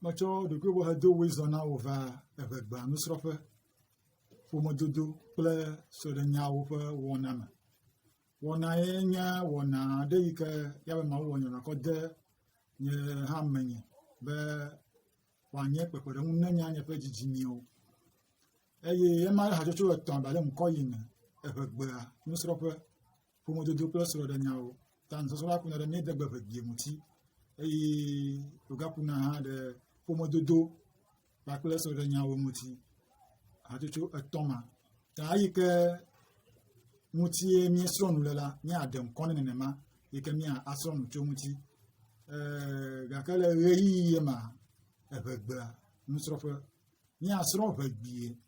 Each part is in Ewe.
Metsɔ ɖokuiwɔhedowoe zɔ na wò va eŋegba nusrɔ̃ƒe, ƒomedodo kple sɔɖenyawo ƒe wɔna me. Wɔna ye nye wɔna aɖe yi ke ye ame mawo wɔnɛ nakɔ de nye hã menye be wòanye kpekpeɖeŋu ne nye hã nye ƒe didi miawo eye ema hatsotso etɔ̃ aɖe le ŋkɔ yi me eŋegbea nusrɔ̃ƒe. ƒomedodo kple srɔ̃ɖenyawo ta nusɔsrɔ̃ la kuna ɖe míade gbe vegie ŋuti eye wògakuna hã ɖe ƒomedodo kpakple srɔ̃ɖenyawo ŋuti hatsotso etɔ̃ ma ta eyi ke ŋutie míesrɔ̃ nu le la míaɖe ŋkɔ ne nenema yi ke míasrɔ̃ nu tso ŋuti Ee, gake le ɣeyiɣi ye ma eʋegbea nusrɔ̃ƒe míasrɔ̃ ʋegbie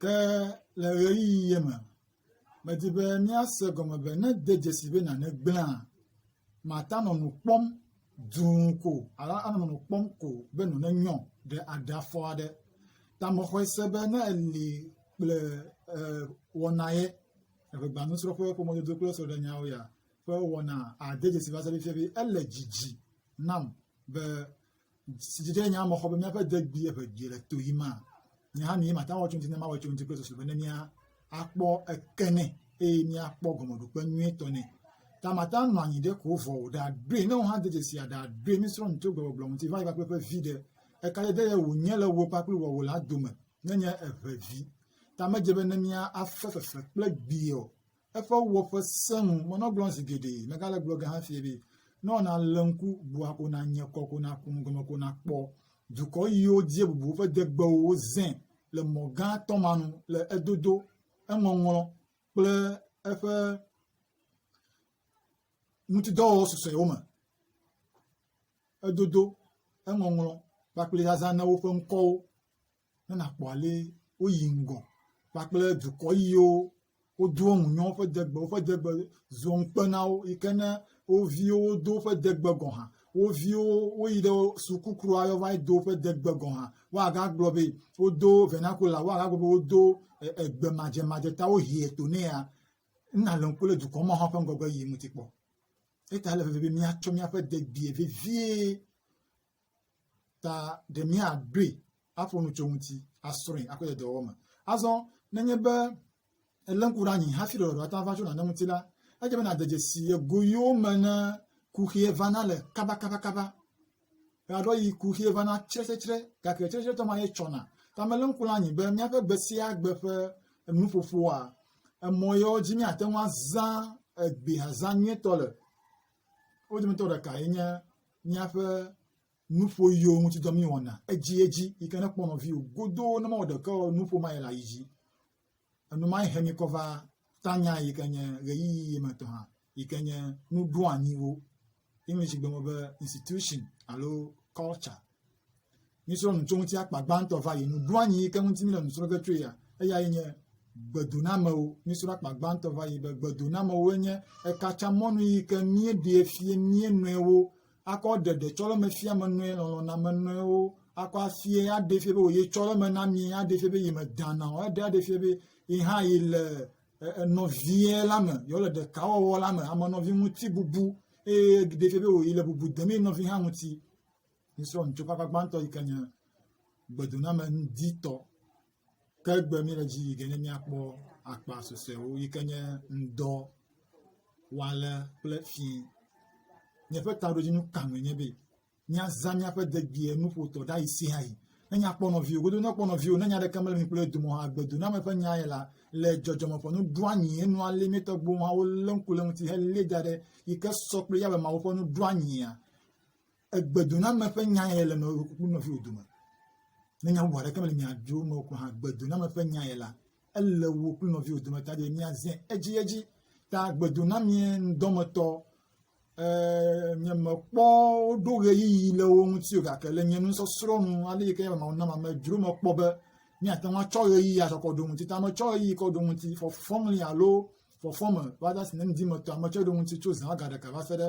Ke le ʋeyiʋi ye me, medi be míase gɔme be ne ede dzesi be nane gblẽa, màte ŋu anɔ nu kpɔm dũu ko o alo anɔ nu kpɔm ko o be nu nenyɔ ɖe aɖe afɔ aɖe. Ta mexɔe se be ne èli kple ee wɔna ye, eŋegbanusrɔ̃ƒe ƒe mɔdodo kple srɔ̃ɖenyawo ya ƒe wɔna ade dzesi va se ɖe fiafi ele dzidzi nam be si dzi ɖe nya me xɔ be míaƒe degbi eve dzi le to yi ma. Nye hã mi mate ŋu awɔ tso ŋuti ne mawɔ tso ŋuti kple susu be ne mía akpɔ eke nɛ eye míakpɔ gɔmeɖokpe nyuitɔ nɛ. Ta mate ŋu anɔ anyi ɖe ko vɔ o, ɖaɖoe ne wò hã de dzesi ya ɖaɖoe mísrɔ̃ nu tso gbegbɔgblɔ ŋuti va yi kpakple ƒe vi ɖe. Eka dede ye wònye le wò kpakple wòawò la dome nenye eve vi. Ta medze be ne mía afe fefe kple gbi o. Eƒe wɔƒe sẽ ŋu. Menɔ gblɔm zi geɖe, megale gblɔ ge hã fiye be, ne wɔ nàle ŋku bua ko nànye kɔ ko nàku nu gɔme ko nàkpɔ dukɔ yiwo die bubu woƒe degbewo wozẽ le mɔ gã atɔ̃ ma nu le edodo, eŋɔŋlɔ kple eƒe ŋutidɔwɔwɔ susɔewo me. Edodo, eŋɔŋlɔ kpakple zazã na woƒe ŋkɔwo. ne nàkpɔ ale woyi ŋgɔ kpakple dukɔ yiwo wodoa ŋu nyo woƒe degbe, woƒe degbe zɔ ŋukpe na wo yi ke ne wo viwo wodo woƒe degbe gɔ̃ hã, wo viwo woyi ɖe sukukroa yɔ va yi do woƒe degbe gɔ̃ hã, woagagblɔ be wodo vernacular, woagagblɔ be wodo e, egbe madzemadze ta wohie to nɛ ya, nale ŋku ɖe dukɔ ma hã ƒe ŋgɔgbe yiyi ŋuti kpɔ. Eta ele veve be míatsɔ míaƒe degbee vevie ta ɖe míaɖoe aƒo nu tso eŋuti, asrɔ̃e, akɔ ɖe dɔwɔwɔ me. Azɔ nenye be èlé ŋku ɖe anyi hafi ɖɔɖɔɖo ate ŋu ava tso nane ŋuti la, edze be nàde dzesi ye goyiwo me ne kuxie vana le kabakabakaba. Eaɖo yi kuxie vana tsretsretsre, gake tsretsretsretɔ ma ye tsɔna. Ta melé ŋku ɖe anyi be míaƒe gbe sia gbe ƒe nuƒoƒoa, emɔ yewo dzi míate ŋu azã egbe azã nyuietɔ le. Wo dometɔ ɖekae nye míaƒe nuƒoɣiwo ŋuti dɔ míwɔna edziedzi yi ke nekpɔ nɔviwò godoo ne mewɔ ɖeke o nuƒo ma yi le ayi dzi. Enu ma he mi kɔ va tanya yi ke nye ɣeyiɣi yi me tɔ hã yi ke nye nuɖoanyiwo. English gblɔ be institution alo culture. Mísrɔ̃ nu tso ŋuti akpa gbãtɔ va yi nu. Ɖo anyi yi ke ŋuti míle nu srɔ̃ ge tsoe ya, eya ye nye gbedonamewo. Mísrɔ̃ akpa gbãtɔ va yi be gbedonamewoe nye ekatsamɔnu yi ke míeɖee fie mía nɔewo akɔ ɖeɖe tsɔleme fia me nɔe lɔlɔ̃name nɔewo akɔ afie aɖee fie be wòye tsɔleme na mí aɖee fie be yi me dana o aɖe aɖee fie be yi hã yi le nɔvie la me yewo le ɖekawɔwɔ la me ame nɔvi ŋuti bubu eye ɖee fie be wòyi le bubu dem ye nɔvi hã ŋuti míesrɔ̃ nu tso eƒe akpa gbãtɔ yi ke nye gbedoname ŋditɔ ke egbe míele dzi yi ke ne míakpɔ akpa susɔewo yi ke nye ŋdɔ wale kple fi miaƒe taɖodzinu ka me nye be míazã míaƒe degbee nuƒotɔ ɖa yi sia yi ne nyakpɔ nɔviwo godo nekpɔ nɔviwo ne nya ɖeke mele mi kple dome hã gbedo na meƒe nya ye la le dzɔdzɔme ƒe nu ɖo anyi enu alɛ mi tɔgbo hã wo le ŋku le ŋuti hele da ɖe yi ke sɔ kple yabe mawo ƒe nu ɖo anyia egbedoname ƒe nya ye le nɔviwò ku nɔviwò dome. Ne nya bubu aɖeke mele mia dome o ko hã, gbedoname ƒe nya ye la, ele wò kple nɔviwò dome ta be miazẽ edziedzi. Ta gbedonamee ŋdɔmetɔ eh, nye mekpɔ woɖo ɣeyiɣi le wo ŋuti o gake le nye nusɔsrɔ̃ nu ale yi ke Mawu nam ame dzro mekpɔ be míate ŋu atsɔ ɣeyiɣi azɔ kɔ ɖo ŋuti. Ta metsɔ ɣeyiɣi kɔ ɖo ŋuti fɔfɔŋli alo fɔfɔ me va ɖe si ne ŋdi me tɔa metsɔ ɖo ŋuti tso zã ga ɖeka va se ɖe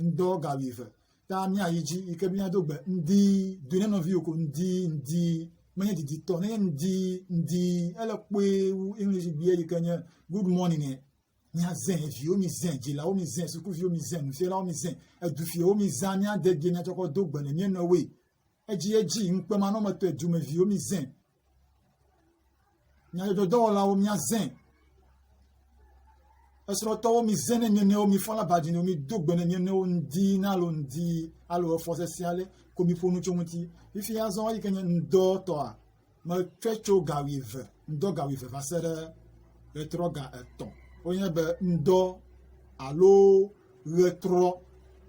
ŋdɔ ga wuive ta míayi dzi yi ke míado gbe ŋdi do ne nɔviwo ko ŋdi ŋdi menye diditɔ nenye ŋdi ŋdi ele kpoe wu english gbea yi ke nye good morning e míazẽ viwo mizẽ dzilawo mizẽ sukuviwo mizẽ nufialawo mizẽ edufiawo mizã míade gie míatsɔkɔ do gbe ne míenɔwoe edzi edzi ŋukpemanɔmetɔe dumeviwo mizẽ Nyadzɔdzɔdɔwɔlawo míazẽ. Esrɔ̃tɔwo mizẽ ne mio nɔewo mifɔ la ba dzinɔ mido gbe ne mio nɔewo ŋdi nalo ŋdi alo efɔ sesẽ ale ko miƒo nu tso ŋuti. Fifi azɔ eyi ke nye ŋdɔ tɔa metsɔe tso ga wuieve ŋdɔ ga wuieve va se ɖe ɣetrɔ ga etɔ̃. Wonye be ŋdɔ alo ɣetrɔ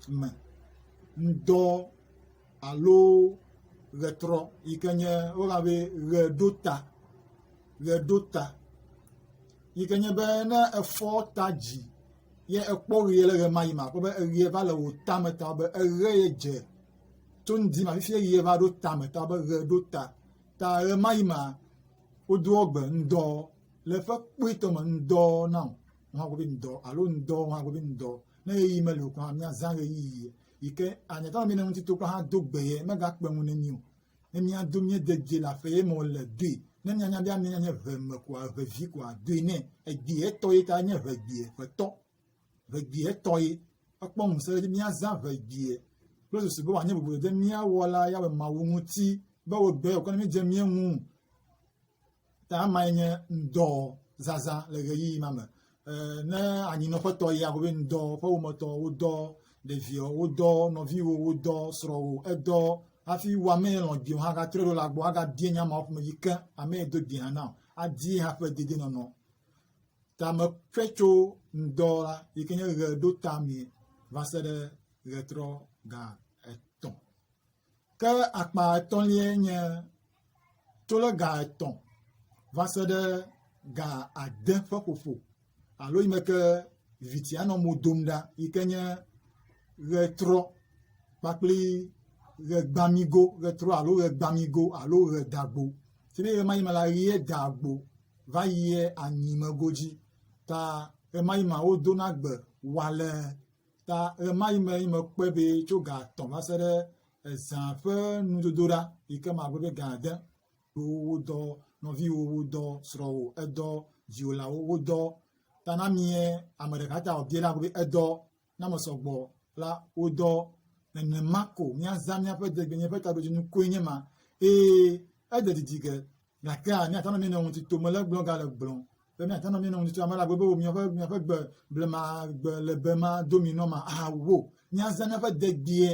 me ŋdɔ alo ʋetrɔ yi ke nye woyɔna be ʋeɖota ʋeɖota yi ke nye be ne efɔ ta dzi ye ekpɔ ʋea le ʋemai me akpɔ be eʋea va le wò tame ta be eʋe ye dze tso ŋdi ma fifi ʋea va ɖo tame ta be ʋe ɖo ta ta ʋemai mea wodo egbe ŋdɔ le ƒe kpuitɔ me ŋdɔ nam hã gbe be ŋdɔ alo ŋdɔ hã gbe be ŋdɔ ne ɣeyiɣi meli o kura míazã ɣeyiɣi. yi ke ahiãtɔ ame ne ŋuti tokpɔ hã do gbe ye megakpe ŋu ne mí o. Ne míado míede dzi le aƒe ye me wòle doe. Ne míanya be amee nye ʋe me koa, ʋe vi koa, doe nɛ. Egbi etɔ ye ta nye ʋe gbi ʋe tɔ. Ʋe gbi etɔ ye. Ekpɔ ŋusẽ ɖe edzi be míazã ʋe gbi ye kple susu be wòanye boblo ɖe mía Wɔla Yahweh Mawu ŋuti be wòɖɔe wòkɔ ne mídze mía ŋu. Ta amae nye ŋdɔ zazã le ɣeyiɣi ma me. Ne anyinɔƒe tɔ yia, be ŋdɔ ƒe wometɔ, wodɔ ɖevio, wodɔ nɔviwo, wodɔ srɔ̃wo, edɔ hafi wo ame lɔ̃ dio hã gatrɔ ɖo le agbɔ agabie nya ma ƒome dzi ke ame do di hã na adi hã ƒe dedienɔnɔ. Ta meƒe tso ŋdɔ la yi ke nye ɣe ɖo tamee va se ɖe ɣetrɔ ga etɔ̃. Ke akpa etɔ̃liae nye tso ɖe ga etɔ̃ va se ɖe ga ade ƒe ƒoƒo alo yi me ke vitia nɔ mo dom ɖa yi ke nye ʋetrɔ kpakple ʋegbamigo, ʋetrɔ alo ʋegbamigo alo ʋedagbo. Ti be ʋe ma yi me la ʋe dagbo va yie anyimego dzi ta ʋe ma yi me wodona gbe wale ta ɣemaɣi me ye mekpɔe be tso ga etɔ̃ va se ɖe ezã ƒe nudodoɖa yi ke magblɔ be ga ade wodɔ nɔviwò, wodɔ srɔ̃wò, edɔ dziwòlawo, wodɔ ta na mie ame ɖeka ta wòbie la be edɔ na me sɔgbɔ la wodɔ nenema ko míazã míaƒe degbenye ƒe taɖodzinu koe nye ma eye ede didi ge gake míate ŋu anɔ mía nɔewo ŋuti tom le gblɔm gale gblɔm be míate ŋu anɔ mía nɔewo ŋuti tom ame elabɔ be wò míaƒe míaƒe gbe blema gbe lebe ma do mi nɔ ma awo míazã míaƒe degbee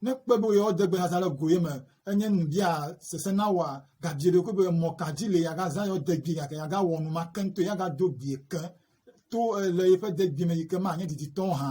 ne kpe be yewo degbe azã le goye me enye nu bia sese na wòa gabie ɖokui be mɔ ka dzi le yeagazã yewo degbee gake yeagawɔ nu ma keŋ to yeagado gbee ke to le yeƒe degbee me yi ke manye diditɔ hã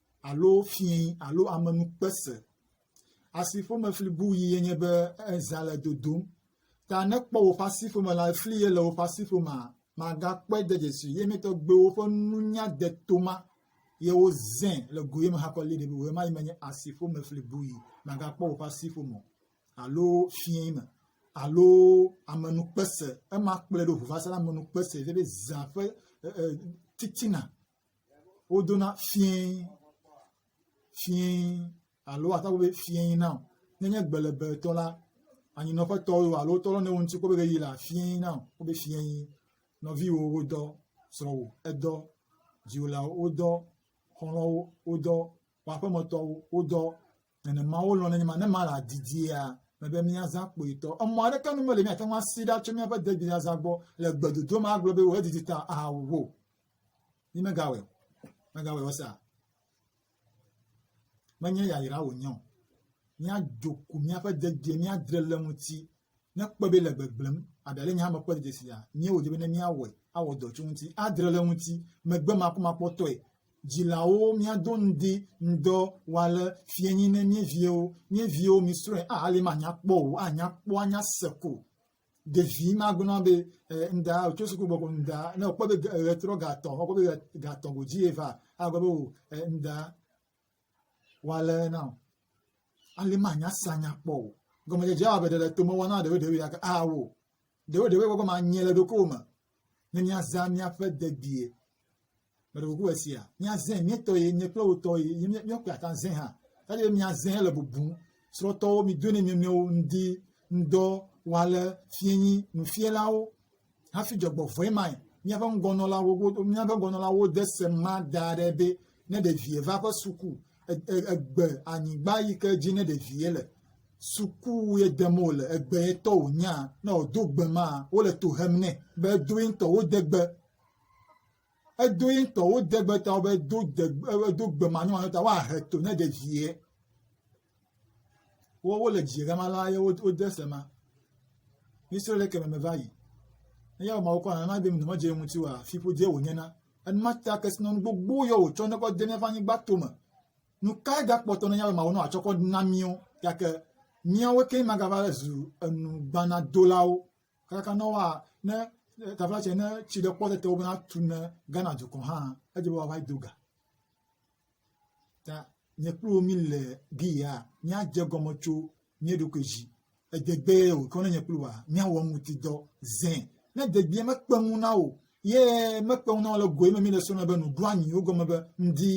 alo fiẽ alo amenukpe se. Asi ƒomefli bui ye nye be eza le dodom. Ta ne kpɔ woƒe asi ƒome la, fli ye le woƒe asi ƒomea, magakpɔe de dzesi ye me tɔgbewo ƒe nunya de toma ye wozẽ le goye me hakɔ li ɖe be woema yi menye asi ƒomefli bui magakpɔ woƒe asi ƒome alo fiẽ me alo amenukpe se. Ema kplɔe ɖo ŋu va se ɖe amenukpe se ye be zã ƒe titina wodona fiẽ fiẽ alo ate ŋu be fiẽ na o. Nenye gbelebetɔ la, anyinɔƒetɔ o alo wotɔ ɖe wo ŋuti kpɔ be ɣeyiɣi la fiẽ na o. Wobe fiẽ nɔviwo wodɔ, srɔ̃wò edɔ, dziwòlawo wodɔ, xɔlɔ̃wo wodɔ, wò aƒemetɔwo wodɔ, nenema wolɔ̃ nenye ma ne ma la didia mebe míazã kpoyitɔ. Emɔ aɖeke nu mele míate ŋu asi ɖa tso míaƒe degbezazã gbɔ le gbedodo ma agblɔ be wò edidi ta ahawu wo. Yi megawɔe, megawɔe wɔsa. Menye yayra wònye o. Míadzo ku míaƒe degbee, míadre le ŋuti. ne kpɔe be le gbegblẽm, aɖa le nye hame kpɔ dzedze sia, nyee wòdze be ne míawɔe, awɔ dɔ tso ŋuti, adre le ŋuti, megbe makpɔmakpɔtɔe, dzilawo míado ŋdi ŋdɔ wale fie nyi ne mie viewo, mie viewo misrɔ̃e, a ale manya kpɔ o, anya kpɔ, anya se ko. Ɖevi magblɔ be eh, ŋda tso suku gbɔgbɔ ŋda, ne wòkpɔ be ɣetrɔ gatɔ, wòkpɔ be gatɔ godzi eva, agblɔ be o oh, eh, ŋda woalé na wò. Ale manya se anya kpɔ o. Gɔmedzedze awɔ abe ɖe le tome wɔna ɖewo ɖewo gake awo. Ɖewo ɖewo wɔgɔ ma nye le ɖokuiwò me ne míazã míaƒe dedie. Meɖe kuku esia. Míazẽ míetɔ ye nye kple wotɔ ye ye míakpe ata zẽ hã. Kaɖi be míazẽ le bubu srɔ̃tɔwo mido ne mia nɔewo ŋdi ŋdɔ wale fienyi nufielawo hafi dzɔgbevɔ̃e mae. Míaƒe ŋgɔnɔlawo míaƒe ŋgɔnɔlawo de se ma da ɖe be ne ɖevi va eƒe suku e, e, egbe anyigba yi ke dzi ne ɖevi le suku ye dem wòle egbe ye tɔ wònya ne wòdo gbe ma wole to hem nɛ be edoe ŋutɔ wode gbe. edo ye ŋutɔwo degbe ta be do degbe edo gbe manyomanyo ta woahe to ne ɖe vie. Wo wole dzie gama la ye wode se ma. Mise le keme me va yi. Eya ma wokɔ nana be nɔnɔme dze ŋuti wa fiƒodze wònye na. Enuma ta kesinɔnu gbogbo yɔ wòtsɔ ne kɔ de míaƒe anyigba to me. Nu kae gakpɔtɔ ne yawema wonɔ atsɔ kɔ na míwo gake míawo ke magava zu enu gbanadolawo Kaɖaka na woa, ne teƒe tsɛ ne tsi ɖe kpɔ tete wobena tu ne Ghana dukɔ hã, edze be woava do ga. Ta nye kple wò míle gi ya míadze gɔme tso mía ɖokui dzi. Edegbee wòkɔ ne nye kple wòa míawɔ eŋuti dɔ zẽ. Ne edegbee mekpe ŋu na wò Ye mekpe ŋu na wo le goe me mi le sona be nu ɖo anyi wo gɔme be ŋdi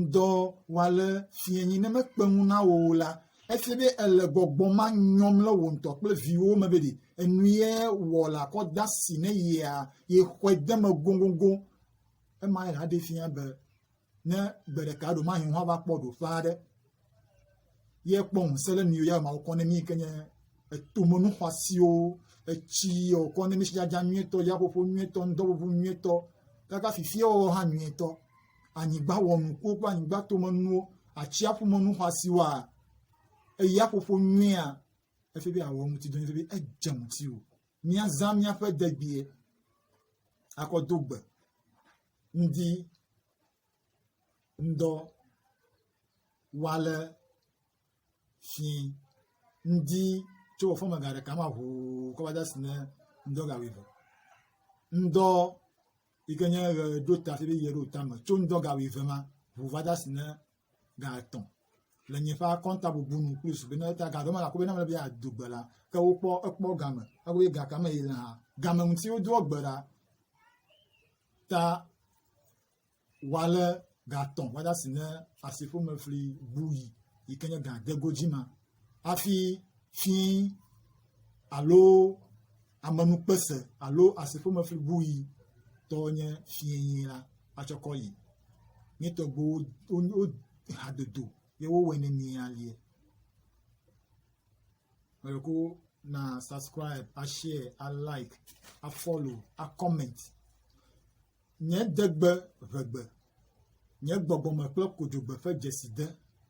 ŋdɔ wa le fie nyi ne mekpe ŋu na wo la efi be ele gbɔgbɔ ma nyɔm le wo ŋutɔ kple viwo me be ɖi enu ye wɔ la kɔ da si ne yea ye xɔe de me gongongo ema ye la ɖe fia be ne gbe ɖeka ɖe mahe hã va kpɔ ɖoƒe aɖe ye kpɔ ŋusẽ ɖe mi ya mawo kɔ ne mi ke nye etomenu xɔasiwo etsi wòkɔ ne mi sidzadza nyuietɔ yaƒoƒo nyuietɔ ŋdɔʋuʋu nyuietɔ kaka fifiawo hã nyuietɔ anyigba wɔnukuwo kple anyigba tomenuwo atsiaƒumenu xɔasiwoa eyaƒoƒo nyuia efi be awɔ ŋuti dɔ efi be edze ŋuti o míazã míaƒe degbie akɔdo gbe ŋdi ŋdɔ wale fi ŋdi tso wò fɔme ga ɖeka ma ʋuu kɔ va de asi ne ŋdɔ ga wuieve. Ŋdɔ yi ke nye ʋe ɖo ta hafi be ʋe ɖo tame tso ŋdɔ ga wuieve ma ʋu va de asi ne ga etɔ le nye ƒe akɔnta bubu nu plus be ne ta ga ɖe me la kube na me be ado gbe la ke wokpɔ ekpɔ game ekube ga kame yi le hã game ŋuti wodo egbe ɖa ta wale ga etɔ wada si ne asiƒome fli bu yi yi ke nye ga degodzi ma hafi fi alo amenukpese alo asiƒomefli bui tɔ nye fiẽe la atsɔ kɔ yi. Nye tɔgbuiwo wo hadodo ye wowɔe ne mi alie. Mele ko na subscribe, ashare, alike, afollow, acomment. Nye degbe ʋegbe, nye gbɔgbɔme kple kodzogbe ƒe dzeside.